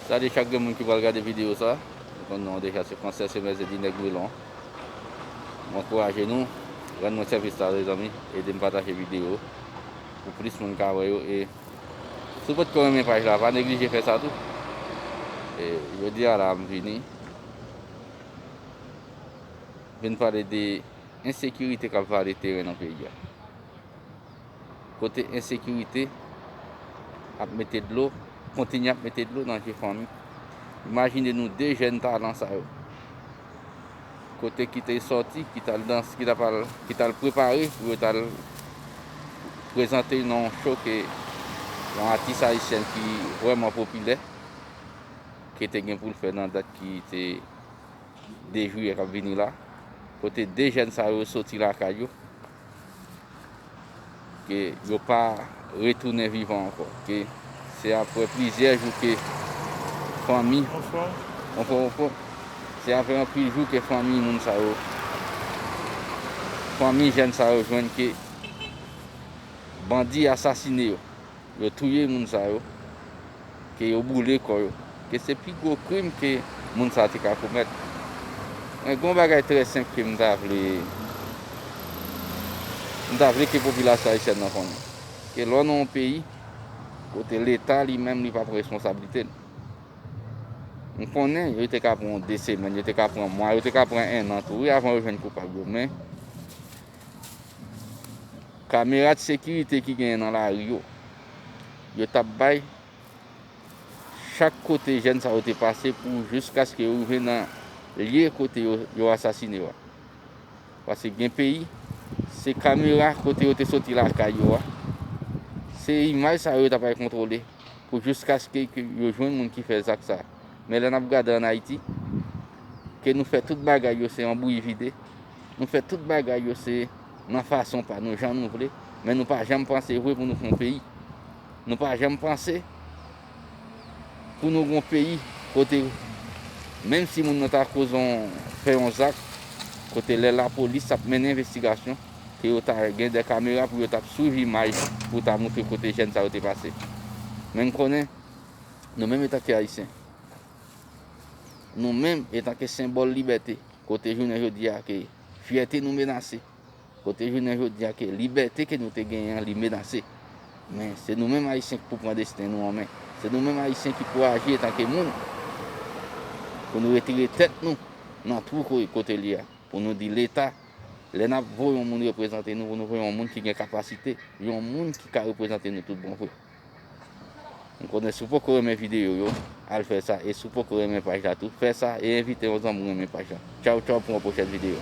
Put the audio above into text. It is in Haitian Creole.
Salye chak 2 moun ki pral gade video sa, nou konn non an deja se Francais et Maize di Nèg Wilon. M ankouraje nou, rann mwen sèvis la mezanmi, ede m pataje video pou plis moun ka wè yo e si w potko renmen paj la pa neglije fè sa tou. E jodi a la m vini vin pale de ensekirite kap vale teren nan peyi a. Kote ensekirite ap mete dlo, kontinye ap mete dlo nan je fanmi. Imajine nou 2 jèn talan sa yo. Kote ki te sòti, ki tal dans, ki tap al, ki tal prepare pou yo tal prezante nan yon show ke yon atis ayisyen ki vrèman popilè ke te gen pou l fè nan dat ki te 2 jiyè kap vini la. Kote 2 jèn sa yo sòti lakay yo. Ke yo pa retounen vivan ankò. Ke se apre plizyè jou ke fanmi. Bonsoir. Bonsoir bonsoir. Se apre anpil jou ke fanmi moun sa yo. Fanmi jèn sa yo jwenn ke bandi asasine yo. Yo touye moun sa yo, ke yo boule kò yo, ke se pi gwo krim ke moun sa te ka komèt. Men gen yon bagay trè senp ke m ta vle, m ta vle ke popilasyon ayisyèn nan konnen, ke lè w nan yon peyi, kote leta li menm li pa pran responsablite l, m konnen yo te ka pran 2 semèn, yo te ka pran mwa, yo te ka pran 1 an tou wi avan yo jwenn koupab yo, men Kamera de sekirite ki genyen nan lari yo, yo t ap bay chak kote jèn sa yo te pase pou jiskaske yo rive nan lye kote yo asasine yo a. Pase gen peyi, se kamera kote yo te soti lakay yo a, se imaj sa yo yo t ap bay kontwole pou jiskaske ke yo jwenn moun ki fè zak sa a. Men lè n ap gade an Ayiti, ke nou fè tout bagay yo se anbouyi vide, Nou fè tout bagay yo se nan fason pa nou, jan nou vle, men nou pa janm panse vre pou nou fon peyi. Nou pa janm panse pou nou gon peyi kote menm si moun nan ta koz on fè on zak kote lè la polis ap mennen envestigasyon ke yo ta gen de kamera pou yo tap swiv imaj pou ta moutre kote jèn sa yo te pase. Men m konnen nou menm etanke ayisyen, nou menm etanke senbòl libète, Kote jounen jodi a ke fyète nou menase, kote jounen jodi a ke libète ke nou te genyen an li menase. Men, se nou menm Ayisyen ki pou pran desten nou an men. Se nou menm Ayisyen ki pou aji etanke moun, pou nou retire tèt nou nan twou kote li a, pou nou di Leta, lè nap voye yon moun reprezante nou, pou nou voye yon moun ki gen kapasite, yon moun ki ka reprezante nou tout bon vre. M konnen si w poko renmen videyo yo, al fè sa e si w poko renmen paj la tou, fè sa e envite yon zanmi w renmen paj la. Tchaw tchaw pou yon pwochèn videyo.